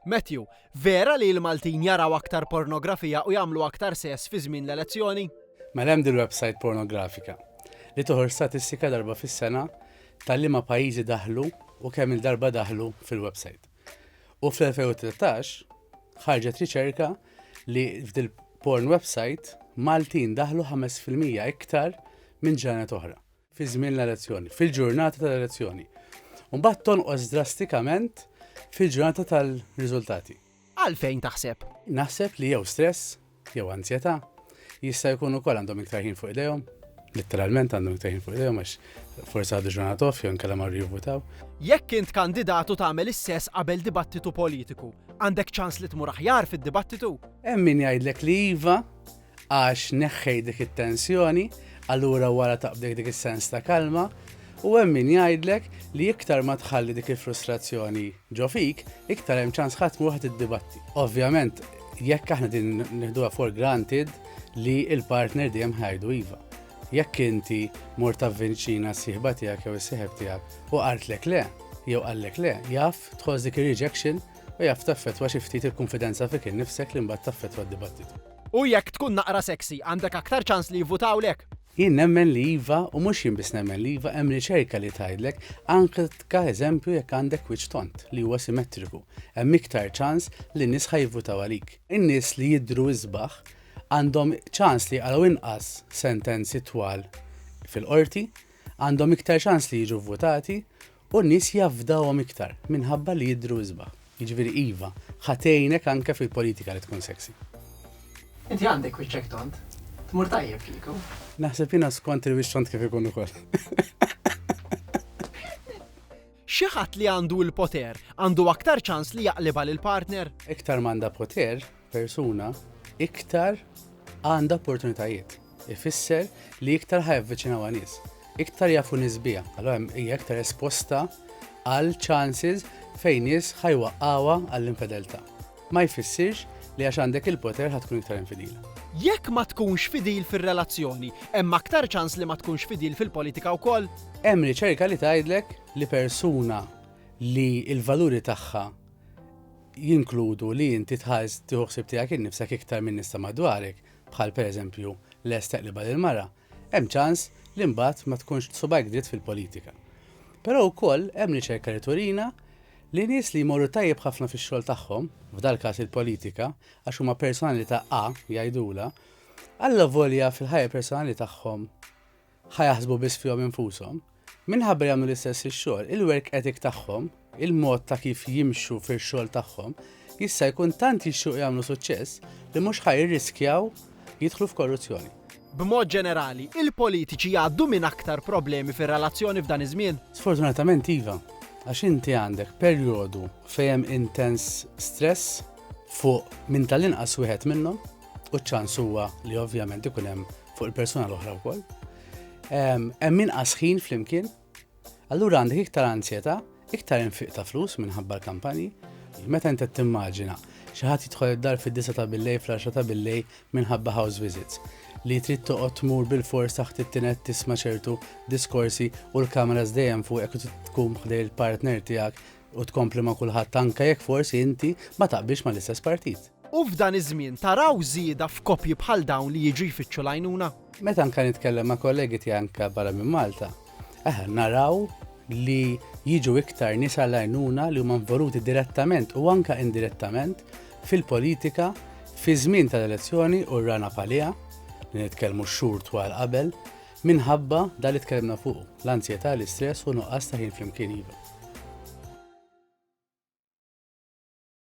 Matthew, Vera li l-Maltin jaraw aktar pornografija u jagħmlu aktar sess fi żmien l-elezzjoni? Mela hemm dil-websajt pornografika li toħorġ statistika darba fis-sena ta' liema pajjiżi daħlu u kemm-il darba daħlu fil-websajt. U fl-2013 ħarġet riċerka li f'dil-porn websajt Maltin daħlu ħames fil-mija iktar minn ġranet oħra. fi żmien l-elezzjoni, fil-ġurnata tal-elezzjoni, u mbagħad tonqos drastikament fil-ġurnata tal-riżultati. Għalfejn taħseb? Naħseb li jew stress, jew anzjetà, jista' jkun ukoll għandhom iktar ħin fuq idejhom, litteralment għandhom iktar ħin fuq idejhom għax forsi għadu ġurnat off jew inkella marru jivvutaw. Jekk int kandidat u tagħmel is-sess qabel dibattitu politiku, għandek ċans li tmur aħjar fid-dibattitu? Hemm min jgħidlek li iva, għax neħħejt dik it-tensjoni, allura wara taqbdek dik is-sens ta' kalma, u hemm min jgħidlek li iktar ma tħalli dik il-frustrazzjoni ġo fik, iktar hemm ċans ħadd mhu ħadd iddibatti. Ovvjament, jekk aħna din nieħduha for granted li il-partner dejjem ħajdu iva. Jekk inti mor ta' vinċina s-sieħba tiegħek jew is-sieħeb tiegħek u qartlek le, jew qallek le, jaf tħoss dik ir-rejection u jaf taffetwa xi ftit il-konfidenza fik innifsek li mbagħad taffetwa d-dibattitu. U jekk tkun naqra sexy, għandek aktar ċans li jivvutawlek? Jien nemmen li iva u mhux jien biss nemmen li iva hemm riċerka li tgħidlek anke ka eżempju jekk għandek wiċċ tond li huwa simetriku hemm iktar ċans li n-nies ħa jivvutaw għalik. In-nies li jidhru isbaħ għandhom ċans li jqargħu inqas sentenzi twal fil-qorti, għandhom iktar ċans li jiġu vvutati U n-nies jafdawhom iktar, minħabba li jidhru isbaħ. Jiġifieri iva, ħa tgħinek anke fil-politika li tkun sexy. Inti għandek wiċċek tond. Tmur tajjeb kieku. Naħseb jiena skont il-wiċċ tond kif ikun ukoll. Xi ħadd li għandu l-poter għandu aktar ċans li jaqlibha lill-partner? Iktar m'għandha poter, persuna iktar għandha opportunitajiet. Ifisser li iktar ħajavviċinaw nies, iktar jafu nisbija, allora hija iktar esposta għal chances fejn nies ħajwaqqawa għall-infedeltà. Ma jfissirx li għax għandek il-poter ħatkun iktar infidil. Jekk ma tkunx fidil fir-relazzjoni, hemm aktar ċans li ma tkunx fidil fil-politika wkoll? Hemm riċerka li tgħidlek li persuna li l-valuri tagħha jinkludu li inti tħares tieħu ħsieb tiegħek innifsek iktar min-nies ta' madwarek, bħal pereżempju lest teqlibha lill-mara, hemm ċans li mbagħad ma tkunx b'subgħajk dritt fil-politika. Però wkoll hemm riċerka li turina li nies li jmorru tajjeb ħafna fix-xogħol tagħhom, f'dal-każ il-politika, għax huma personalità A, jgħidulha, allavolja fil-ħajja personali tagħhom Ħa jaħsbu biss fihom infushom. Minħabba li jagħmlu l-istess ix-xogħol, il-work ethic tagħhom, il-mod ta' kif jimxu fix-xogħol tagħhom, jista' jkun tant jixtiequ jagħmlu suċċess li mhux ħa jirriskjaw jidħlu f'korruzzjoni. B'mod ġenerali, il-politiċi jgħaddu minn aktar problemi fir-relazzjoni f'dan iż-żmien? Sfortunatament iva, għax inti għandek perjodu fejn hemm intens stress fuq minn tal-inqas wieħed minnhom u ċ-ċans huwa li ovvjament ikun hemm fuq il-persuna l-oħra wkoll. Hemm inqas ħin flimkien, allura għandek iktar anzjetà, iktar infiq ta' flus minħabba l-kampanji. Meta inti timmaġina xi ħadd jidħol id-dar fid-disa ta' billej fl-10 ta' billej minħabba house visits li trid toqgħod tmur bil-fors taħt it-tinet tisma' ċertu diskorsi u l-kameras dejjem fuq hekk tkun ħdej il-partner tiegħek U tkompli ma' kulħadd anke jekk forsi inti ma taqbilx mal-istess partit. U f'dan iż-żmien taraw żieda f'koppji bħal dawn li jiġu jfittxu l-għajnuna? Meta anke nitkellem ma' kollegi tiegħi anke barra minn Malta, aħna naraw li jiġu iktar nies għall-għajnuna li huma involuti direttament u anke indirettament fil-politika fiż-żmien tal-elezzjoni u rana bħaliha, li nitkellmu x-xhur twal qabel, Minħabba dak li tkellimna fuqu, l-anzjetà, l-istress u nuqqas ta' ħin flimkien iva.